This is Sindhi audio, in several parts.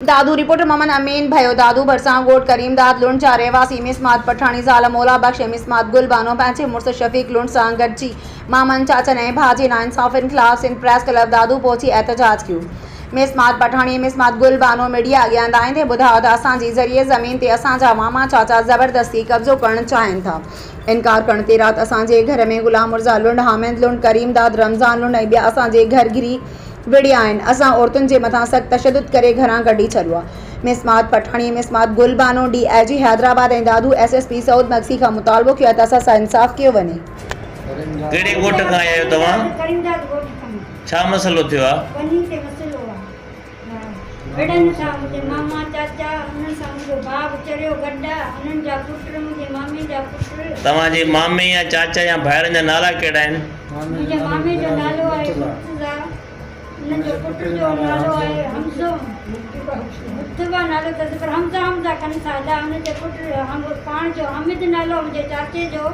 دادو، رپورٽر محمد امين ڀيو، دادو ڀرسان ڳوٺ ڪريم داد لنڊ جا رهواسي ميس ماد پٺاڻي زال مولا بخش ۽ ميس ماد گل بانو پنهنجي مڙس شفيق لنڊ سان گڏجي مامن، چاچن ۽ ڀاء جي ناانصافين خلاف سنڌ پريس ڪلب دادو پهچي احتجاج ڪيو. ميس ماد پٺاڻي ۽ ميس ماد گل بانو ميڊيا اڳيان ڌائيندي ٻڌايو ته اسان جي زرعي زمين تي اسان جا ماما چاچا زبردستي قبضو ڪرڻ چاهين ٿا. انڪار ڪرڻ تي رات اسان جي گهر ۾ غلام مرزا لنڊ، حامد لنڊ، ڪريم داد، رمضان لنڊ ۽ ٻيا اسان جي گهر گهري وڙهيا آهن، اسان عورتن جي مٿان سخت تشدد ڪري گهران ڪڍي ڇڏيو آهي. مسمات پٺاڻيء، مسمات Gul Bano, D I G Hyderabad ۽ Dadu S S P Saud Magsi کان مطالبو ڪيو آهي ته اسان سان انصاف ڪيو وڃي. ڪهڙي ڳوٺ کان آيا آهيو توهان؟ ڇا مسئلو ٿيو آهي؟ توهان جي مامي يا چاچا يا ڀائرن جا نالا ڪهڙا آهن؟ منهنجي مامي جو نالو آهي مرتضيٰ، انهن جو پٽ جو نالو آهي حمزو، مرتضيٰ نالو اٿس پر حمزه حمزه ڪن ٿا ادا، ان جي پٽ پاڻ جو حامد نالو آهي منهنجي چاچي جو،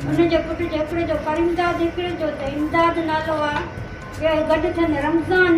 ان جي پٽ جو هڪڙي جو ڪريمداد هڪڙي جو ته امداد نالو آهي، ٻيا گڏ ٿين رمضان.